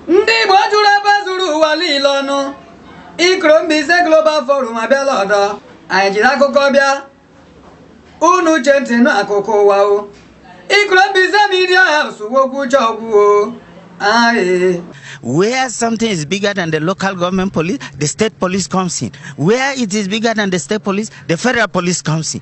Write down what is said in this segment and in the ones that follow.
ndị Igbo jụrụ ebe zuru ụwa niile ọnụ ikoro Mbaise Global Forum abịala ọdọ anyị jiri akụkọ bịa unu chee ntị nụ akụkọ ụwa o ikoro Mbaise Media House wokwu uche ọgwụwo Where something is bigger than the local government police, the state police comes in. Where it is bigger than the state police, the federal police comes in.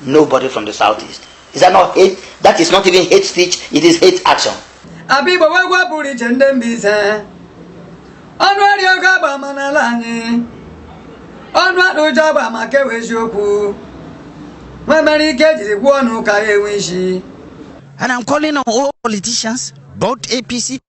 Nobody from the southeast. Is that not hate? That is not even hate speech, it is hate action. Abigbo wụ egwu pụrụ iche ndị Mbaise ọnụ arị oge agba ama n'ala anyị ọnụ adị ụjọ agba ama ke wụ eziokwu nwa mere ike jiri gwuo ọnụ ka ya enwe isi And I'm calling on all politicians, both APC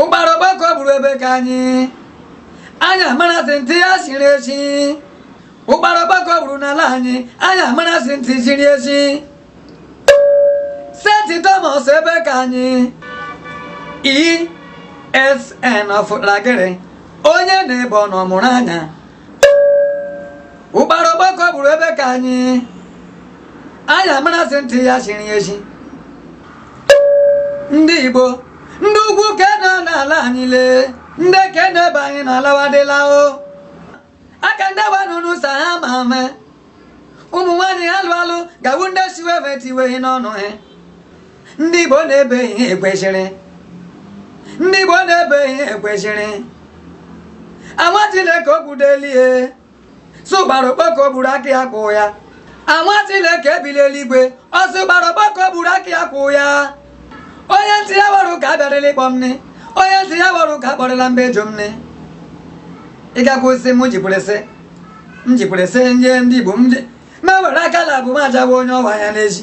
ụkpara okpoko gburu ebe ka anyị anyị amara sị ntị ya siri esi ụkpara okpoko gburu n'ala anyị anyị amara sị ntị siri esi sit at home ebe ka anyị ESN ọfụlagịrị onye na-ebe ọ nọ mụrụ anya ụkpara okpoko gburu ebe ka anyị anyị amara sị ntị ya chiri echi ndị igbo ndị ugwu ka nọ n'ala anyị lee ndị ka na-ebe anyị na alawadịla o aka ndị gbanụ n'ụsa ha ma ame ụmụ nwaanyị ha lụ alụ ga wụ ndị siwe tiweghị n'ọnụ ha ndị Igbo na-ebe ihe ekwesịrị ndị Igbo na-ebe ihe ekwesịrị anwa Chineke okwudelie sị ụkpara okpoko gburu aka ya kwụ ya anwa Chineke ebi l'eluigwe sị ụkpara okpoko gburu aka ya kwụ ya onye ntị ya wara ụka abịarịla ịkpọ m onye ntị ya wara ụka akpọrịla mba ejo m nne ịgakwa osisi m jipụrịsị m jipụrịsị ndị ndị Igbo m na-ewere aka na abụ m ajawa onye ọwa ya n'ezi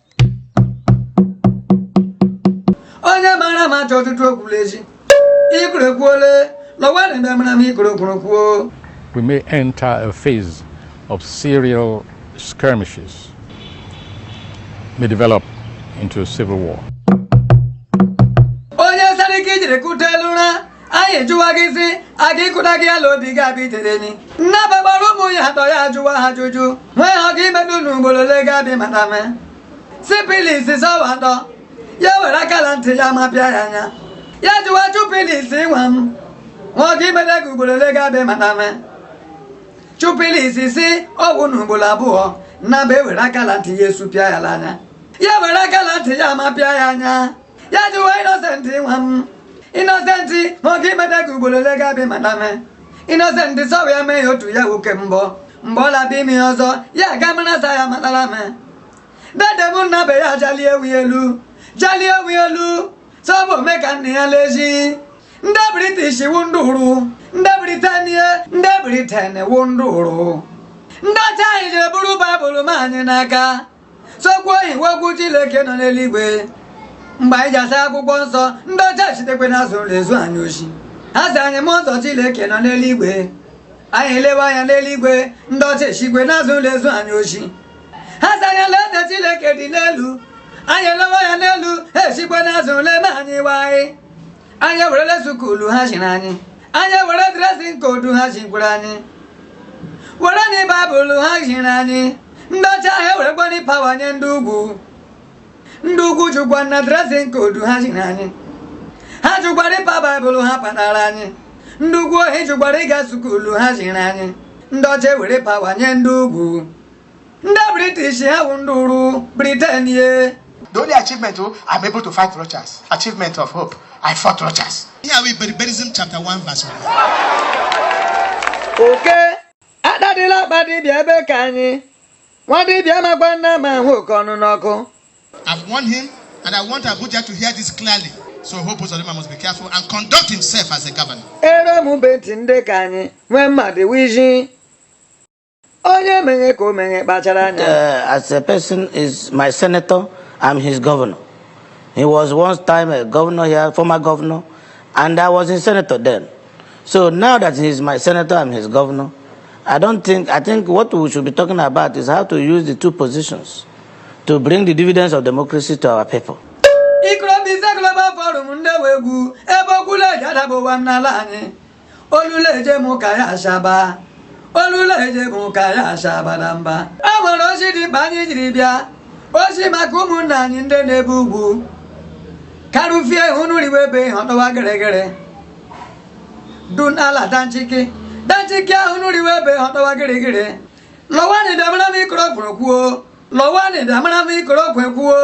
onye mara ma achọ ọtụtụ okwula echi ikoro ekwuole lọwa na ebe mara m ikoro kwuru kwuo we may enter a phase of serial skirmishes may develop into a civil war. anyị ejụwa gị sị aga ịkụda gị ala obi gị abịa itere enyi nna bagbara ụmụ ya atọ ya ajụwa ha ajụjụ nwee ha ga imedu na ugboro ole gị abịa mata me sipilis sị ọ wụ atọ ya were aka la ntị ya ma pịa ya anya ya jụwa chupilis ịnwa m nwa gị imede gị ugboro ole gị abịa mata me chupilis sị ọ wụ na ugboro abụọ nna ba ewere aka la ntị ya esupịa ya n'anya ya were aka la ntị ya ma pịa ya anya ya jụwa inosenti nwa m inosenti ma ọ ga imeta gị ugboro ole ga-abịa mata me inosenti sọwa ya mee ya otu ya nwoke mbọ mgbe ọ labịa ime ya ọzọ ya aga mara sa ya matara me dede m nna be ya jalie ewu ya elu jalie ewu ya elu sị ọ bụ ome ka nna ya lezi ndị british wu ndị uru ndị britania ndị briten wu ndị uru ndị ọcha anyị jere buru baịbụl ma anyị n'aka sị okwu ahụ wu okwu Chineke nọ n'eluigwe mgbe anyị ji asa akwụkwọ nsọ ndị ọcha eshitekwe na azụ ụlọ ezu anyị oshi ha sị anyị mụ ụzọ Chineke nọ n'eluigwe anyị elewe anya n'eluigwe ndị ọcha eshikwe na azụ ụlọ ezu anyị oshi ha sị anyị lee eze Chineke dị n'elu anyị elewe anya n'elu ha eshikwe na azụ ụlọ ana anyị ihe anyị anyị ewerele sukulu ha ziri anyị anyị ewere dress code ha zikwere anyị wereni baịbụl ha ziri anyị ndị ọcha ha ewerekwani pawa nye ndị ugwu ndị ugwu jụkwana dress code ha ziri anyị ha jụkwara ịpa baịbụl ha patara anyị ndị ugwu ohi jụkwara ịga sukulu ha ziri anyị ndị ọcha ewere pawa nye ndị ugwu ndị british ha wụ ndị uru briten ye The only achievement oh, I'm able to fight Rochas. Achievement of Hope. I fought Rochas. Here we Iberiberism chapter 1 verse 1. oke atadịla akpa dibịa ebe ka anyị nwa dibịa amakwana ama ahụ oke ọnụ n'ọkụ I've warned him and I want Abuja to hear this clearly. So Hope Uzodinma must be careful and conduct himself as a governor. ere m be ntị ndị ka anyị nwee mmadụ wiji onye meghe ka o meghe kpachara anya uh, as a person is my senator i'm his governor he was once time a governor here former governor and i was in senator then so now that he is my senator i'm his governor i don't think i think what we should be talking about is how to use the two positions to bring the dividends of democracy to our people Ikrobisa Global Forum ndị egwu ebe okwula eji adaba ụwa n'ala anyị olule eje m ka ya ashaba olule eje m ka ya ashaba na mba e nwere ozi dị mkpa anyị jiri bịa ozi maka ụmụnna anyị ndị nọ n'ebe ugwu karụfie unu riwe ebe ihe ọtọwa gịrịgịrị dun ala danchiki danchiki ahụ unu riwe ebe ihe ọtọwa gịrịgịrị lọwani bịa mara m ikoro kwuru kwuo lọwanị bịa mara m ikoro okwe kwuo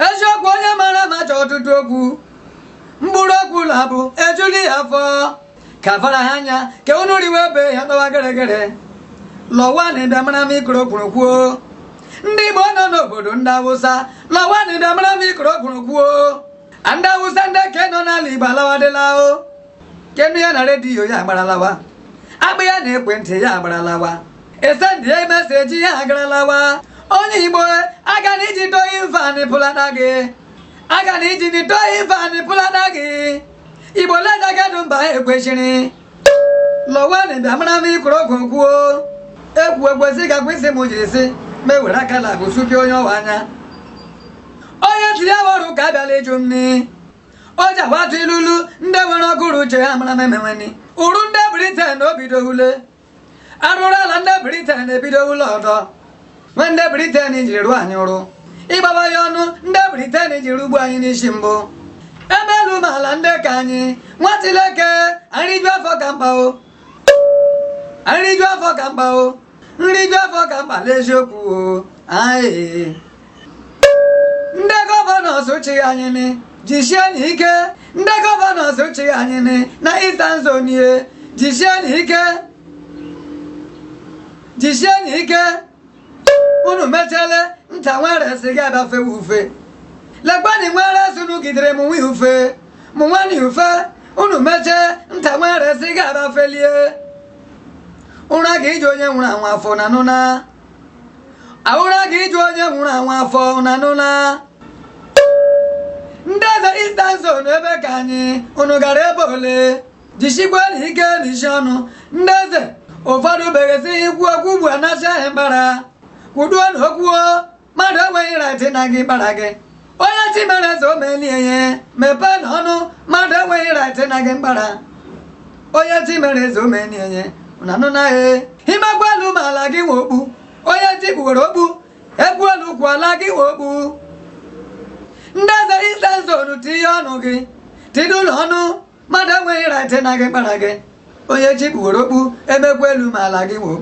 eziokwu onye mara ama achọọ ọtụtụ okwu mkpụrụ okwu laabụ ejule ya afọ ka fara ha anya ka unu riwe ebe ya tọwa geregere lọwanị bịa mara m ikoro kwuru kwuo ndị igbo nọ n'obodo ndị awụsa lọwanị bịa mara m ikoro kwuru kwuo ndị awụsa ndị ke nọ n'ala igbo alawadịla o ke nụ ya na redio ya agbara lawa a kpọọ ya na ekwentị ya agbara lawa e send ya message ya agbara lawa onye igbo a ga na iji towing van pụlata gị a ga na iji ni towing van pụlata gị igbo leda gadụ mba ekwesịrị lọwanị bịa mara m ikoro okwu kwuo ekwu ekwesị ka kwesị m jiri sị ma ewere aka na agụsuke onye ọwa anya onye tiri ya ọrụ ka abịala ịjụ m ni o ji atụ ilulu ndị nwere ọgụrụ uche ha mara m emenweni uru ndị briten o bido ule arụrụala ndị briten ebidola ọdọ ma ndị briten jiri rụọ anyị arụ ịgbaba ya ọnụ ndị briten jiri gbuo anyị n'isi mbụ e mee elu mee ala ndị nke anyị nwa chileke nriju afọ ka mkpa o nriju afọ ka mkpa o nriju afọ ka mkpa n'eziokwu o anyị ndị gọvanọs chị anyị ni jisienụ ike ndị gọvanọs chị anyị ni na Eastern Zone ihe jisienụ ike jisienụ ike unu mechele nta nwere si ga abafe ufe lekwani nwere sunu gidere m nwe ufe mụ nwani ufe unu mechee nta nwere si ga abafelie ụra ga-eju onye nwụrụ anwụ afọ unu anụna ụra ga-eju onye nwụrụ anwụ afọ unu anụla ndị eze Eastern Zone ebe ka anyị unu gara ebe ole jisikwanụ ike n'isi ọnụ ndị eze ụfọdụ beghesi ikwu okwu ugbu a anasị ha mkpara kwuduonụ okwu o mmadụ enweghị rait ịna gị mkpara gị onye chi mere eze o melie ihe mepeenụ ọnụ mmadụ enweghị rait ịna gị mkpara onye chi mere eze o melie ihe na anụ naghị imegbu elu ma ala gị nwe okpu onye chi kpuwere okpu e kwuo elu kwuo ala gị nwe okpu ndị eze Eastern Zone tinye ọnụ gị tinyenụ ọnụ mmadụ enweghị rait ịna gị mkpara gị onye chi kpuwere okpu emegbu elu ma ala gị nwe okpu